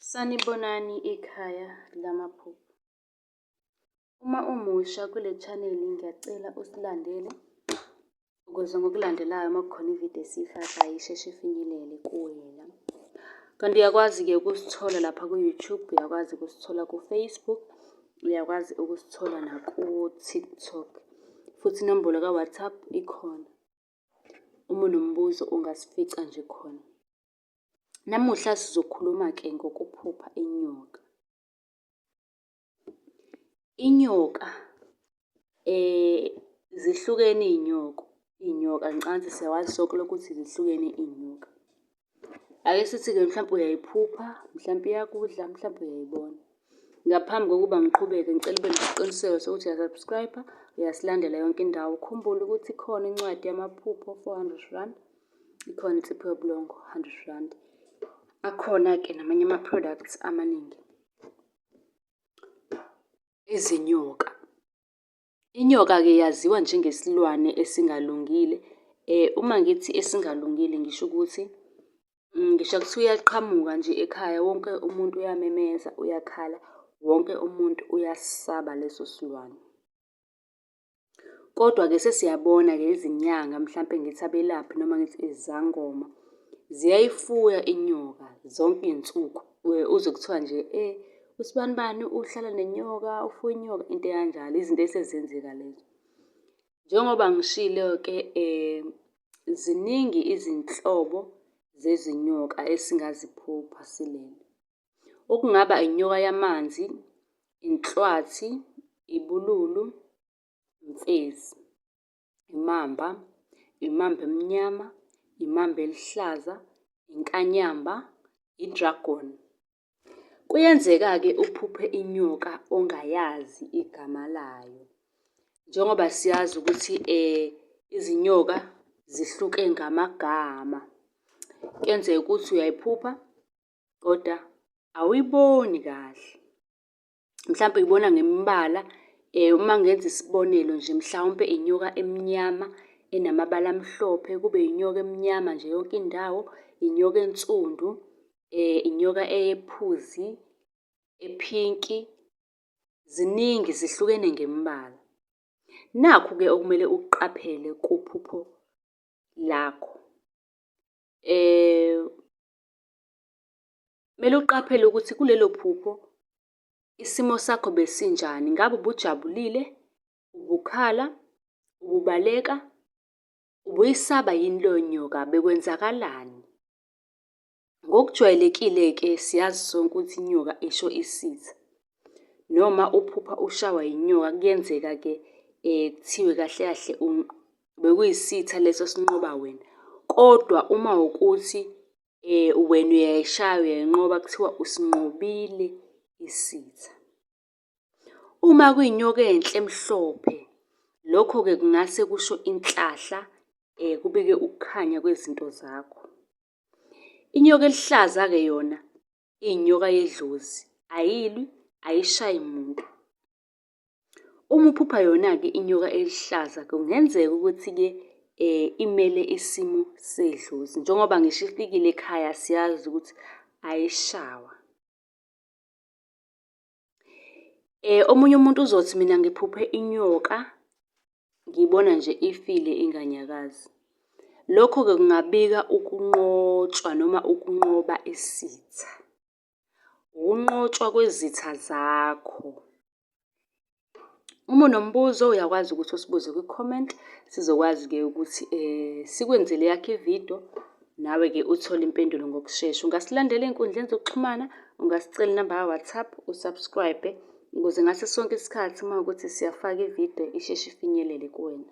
Sanibonani ikhaya lamaphupho. Uma umusha kule channel ngiyacela usilandele ukuze ngokulandelayo uma kukhona ividiyo esiyifakayo isheshe ifinyelele kuwena. Kanti uyakwazi-ke ukusithola lapha ku-YouTube, uyakwazi ukusithola ku-Facebook, uyakwazi ukusithola naku-TikTok. Futhi inombolo ka-WhatsApp ikhona. Uma unombuzo ungasifica nje khona. Namuhla sizokhuluma-ke ngokuphupha inyoka. Inyoka zihlukene iy'nyoko, iy'nyoka ngicansi siyawazi sonke lokho ukuthi zihlukene iy'nyoka. Ake sithi-ke mhlampe uyayiphupha, mhlampe iyakudla, mhlampe uyayibona. Ngaphambi kokuba ngiqhubeke ngicela ube nesiqiniseko sokuthi uya-subscribe-a, uyasilandela yonke indawo. Ukhumbule ukuthi ikhona incwadi yamaphupho four hundred rand. ikhona insipho yobulongo 100 rand akhona-ke namanye ama-products amaningi izinyoka inyoka-ke yaziwa njengesilwane esingalungile um uma ngithi esingalungile ngisho ukuthi mm, ngisho kuthiwa uyaqhamuka nje ekhaya wonke umuntu uyamemeza uyakhala wonke umuntu uyasaba leso silwane Kodwa-ke sesiyabona-ke izinyanga mhlampe ngithi abelaphi noma ngithi izangoma ziyayifuya inyoka zonke iy'nsuku. Uzwe kuthiwa nje eyi usibanibani uhlala nenyoka, ufuye inyoka, into ekanjalo, izinto esezenzeka lezo. Njengoba ngishilo-ke ziningi izinhlobo zezinyoka esingaziphupha silele. okungaba inyoka yamanzi, inhlwathi, ibululu, imfezi, imamba, imamba emnyama, imamba elihlaza, inkanyamba, i-dragon. Kuyenzeka-ke uphuphe inyoka ongayazi igama layo njengoba siyazi ukuthi um izinyoka zihluke ngamagama. Kuyenzeka ukuthi uyayiphupha kodwa awuyiboni kahle. Mhlampe uyibona ngemibala eh, uma ngenza isibonelo nje mhlawumpe inyoka emnyama enamabala amhlophe kube inyoka emnyama nje yonke indawo, inyoka ensundu, eh, inyoka eyephuzi, ephinki, ziningi zihlukene ngemibala. Nakhu-ke okumele ukuqaphele kuphupho lakho. Eh, Kumele uqaphele ukuthi kulelo phupho isimo sakho besinjani. Ngabe ubujabulile, ubukhala, ububaleka, ubuyisaba yini leyo nyoka, bekwenzakalani? Ngokujwayelekile-ke siyazi sonke ukuthi inyoka isho isitha. Noma uphupha ushawa yinyoka kuyenzeka-ke um kuthiwe kahle kahle bekuyisitha leso esinqoba wena. Kodwa uma wukuthi wena uyayishaya uyayinqoba kuthiwa usinqobile isitha. Uma kuyinyoka enhle emhlophe, lokho-ke kungase kusho inhlahla kubike ukukhanya kwezinto zakho. Inyoka eluhlaza-ke yona iyinyoka yedlozi, ayilwi, ayishayi muntu. Uma uphupha yona-ke inyoka eluhlaza kungenzeka ukuthi-ke um imele isimo sedlozi njengoba ngisho ifikile ekhaya siyazi ukuthi ayishawa. Um omunye umuntu uzothi mina ngiphuphe inyoka ngibona nje ifile inganyakazi. Lokho-ke kungabika ukunqotshwa noma ukunqoba isitha. ukunqotshwa kwezitha zakho. Uma unombuzo uyakwazi ukuthi usibuze kwi-comment, sizokwazi-ke ukuthi sikwenzele yakho ividiyo, nawe-ke uthole impendulo ngokushesha. Ungasilandela ey'nkundleni zokuxhumana, ungasicela inamba ka-WhatsApp, usubscribe ukuze ngaso sonke isikhathi uma ukuthi siyafaka ividiyo isheshe ifinyelele kuwena.